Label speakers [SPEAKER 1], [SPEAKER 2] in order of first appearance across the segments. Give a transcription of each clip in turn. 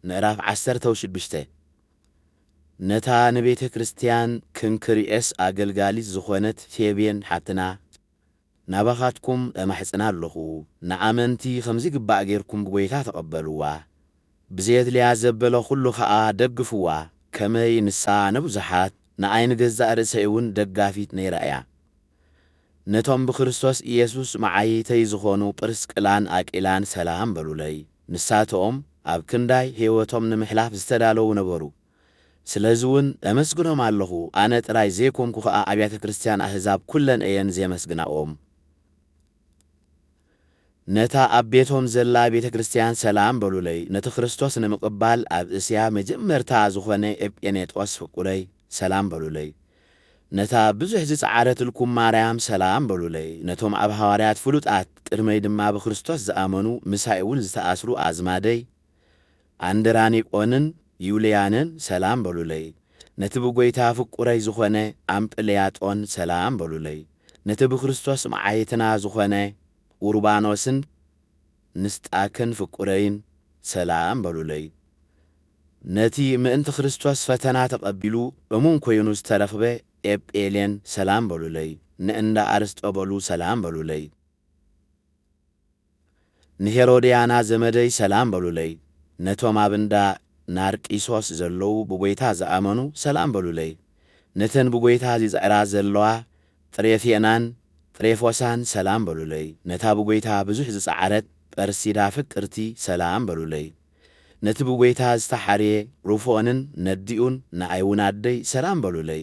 [SPEAKER 1] ምዕራፍ ዓሰርተው ሽዱሽተ ነታ ንቤተ ክርስቲያን ክንክርኤስ ኣገልጋሊት ዝኾነት ፌቤን ሓብትና ናባኻትኩም እማሕጽና ኣሎኹ፣ ንኣመንቲ ከምዚግባእ ጌርኩም ብጐይታ ተቐበልዋ፣ ብዜድልያ ዘበለ ዅሉ ኸኣ ደግፍዋ፣ ከመይ ንሳ ንብዙሓት፣ ንኣይ ንገዛእ ርእሰይውን ደጋፊት ነይራ እያ። ነቶም ብክርስቶስ ኢየሱስ መዓይይተይ ዝኾኑ ጵርስቅላን ኣቂላን ሰላም በሉለይ። ንሳቶም ኣብ ክንዳይ ሕይወቶም ንምሕላፍ ዝተዳለዉ ነበሩ። ስለዚውን ኤመስግኖም ኣሎኹ፣ ኣነ ጥራይ ዘይኮንኩ ኸኣ ኣብያተ ክርስቲያን ኣሕዛብ ኩለን እየን ዜመስግናኦም። ነታ ኣብ ቤቶም ዘላ ቤተ ክርስቲያን ሰላም በሉለይ፣ ነቲ ክርስቶስ ንምቕባል ኣብ እስያ መጀመርታ ዝኾነ ኤጲኔጦስ ፍቁረይ ሰላም በሉለይ፣ ነታ ብዙሕ ዝጸዓረትልኩም ማርያም ሰላም በሉለይ፣ ነቶም ኣብ ሃዋርያት ፍሉጣት ቅድመይ ድማ ብክርስቶስ ዝኣመኑ ምሳይ'ውን ዝተኣስሩ ኣዝማደይ ኣንድራኒቆንን ዩልያንን ሰላም በሉለይ። ነቲ ብጐይታ ፍቁረይ ዝኾነ ኣምጵልያጦን ሰላም በሉለይ። ነቲ ብክርስቶስ መዓይትና ዝኾነ ኡርባኖስን ንስጣክን ፍቁረይን ሰላም በሉለይ። ነቲ ምእንቲ ክርስቶስ ፈተና ተቐቢሉ እሙን ኮይኑ ዝተረኽበ ኤጵሌን ሰላም በሉለይ። ንእንዳ ኣርስጦበሉ ሰላም በሉለይ። ንሄሮድያና ዘመደይ ሰላም በሉለይ፣ ነቶም ኣብ እንዳ ናርቂሶስ ዘለዉ ብጐይታ ዝኣመኑ ሰላም በሉለይ፣ ነተን ብጐይታ ዚጽዕራ ዘለዋ ጥሬፌናን ጥሬፎሳን ሰላም በሉለይ፣ ነታ ብጐይታ ብዙሕ ዝጸዓረት ጰርሲዳ ፍቅርቲ ሰላም በሉለይ፣ ነቲ ብጐይታ ዝተሓርየ ሩፎንን ነዲኡን ንኣይውን ኣደይ ሰላም በሉለይ።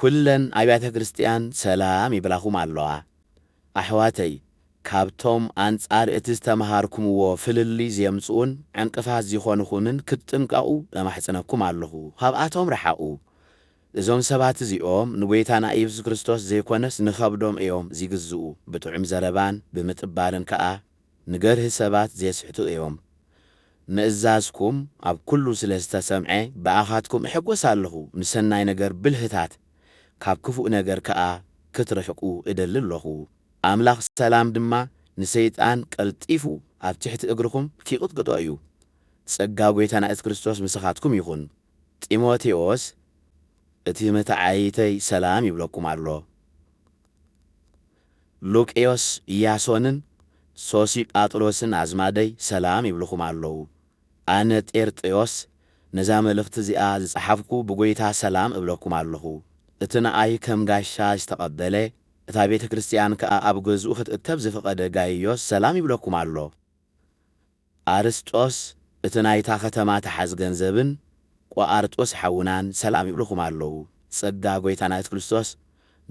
[SPEAKER 1] ኩለን ኣብያተ ክርስትያን ሰላም ይብላኹም ኣለዋ ኣሕዋተይ ካብቶም ኣንጻር እቲ ዝተመሃርኩምዎ ፍልልይ ዜምጽኡን ዕንቅፋት ዚኾኑኹምን ክትጥንቀቑ እማሕጽነኩም ኣለኹ ኻብኣቶም ርሓቑ እዞም ሰባት እዚኦም ንጐይታና ኢየሱስ ክርስቶስ ዘይኮነስ ንኸብዶም እዮም ዚግዝኡ ብጥዑም ዘረባን ብምጥባርን ከኣ ንገርሂ ሰባት ዜስሕቱ እዮም። ምእዛዝኩም ኣብ ኵሉ ስለ ዝተሰምዐ፣ ብኣኻትኩም እሕጐስ ኣለኹ፣ ንሰናይ ነገር ብልህታት፣ ካብ ክፉእ ነገር ከኣ ክትርሕቁ እደሊ ኣሎኹ። ኣምላኽ ሰላም ድማ ንሰይጣን ቀልጢፉ ኣብ ትሕቲ እግርኹም ኪቕጥቅጦ እዩ። ጸጋ ጐይታና የሱስ ክርስቶስ ምሳኻትኩም ይኹን። ጢሞቴዎስ እቲ መተዓይይተይ ሰላም ይብለኩም ኣሎ። ሉቅዮስ ኢያሶንን ሶሲጳጥሮስን ኣዝማደይ ሰላም ይብሉኹም ኣለዉ። ኣነ ጤርጥዮስ ነዛ መልእኽቲ እዚኣ ዝጸሓፍኩ ብጐይታ ሰላም እብለኩም ኣለኹ። እቲ ንኣይ ከም ጋሻ ዝተቐበለ፣ እታ ቤተ ክርስትያን ከኣ ኣብ ገዝኡ ኽትእከብ ዝፈቐደ ጋይዮስ ሰላም ይብለኩም ኣሎ። ኣርስጦስ እቲ ናይታ ከተማ ተሓዝ ገንዘብን ቆኣርጦስ ሓውናን ሰላም ይብሉኹም ኣለዉ ጸጋ ጎይታና የሱስ ክርስቶስ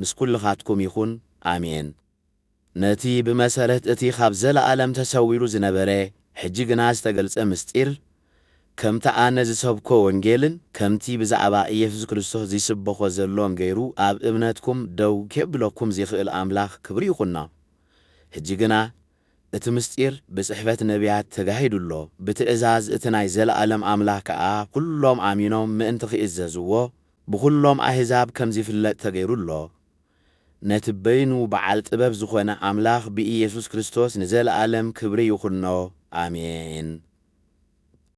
[SPEAKER 1] ምስ ኩልኻትኩም ይኹን ኣሜን ነቲ ብመሰረት እቲ ኻብ ዘለኣለም ተሰዊሩ ዝነበረ ሕጂ ግና ዝተገልጸ ምስጢር ከምቲ ኣነ ዝሰብኮ ወንጌልን ከምቲ ብዛዕባ ኢየሱስ ክርስቶስ ዚስበኾ ዘሎን ገይሩ ኣብ እምነትኩም ደው ኬብለኩም ዚኽእል ኣምላኽ ክብሪ ይኹኖ ሕጂ ግና እቲ ምሥጢር ብጽሕፈት ነቢያት ተጋሂዱ ኣሎ፣ ብትእዛዝ እቲ ናይ ዘለዓለም ኣምላኽ ከኣ ኵሎም ኣሚኖም ምእንቲ ኺእዘዝዎ፣ ብዅሎም ኣሕዛብ ከም ዚፍለጥ ተገይሩ ኣሎ። ነቲ በይኑ ብዓል ጥበብ ዝኾነ ኣምላኽ ብኢየሱስ ክርስቶስ ንዘለዓለም ክብሪ ይኹኖ። ኣሜን።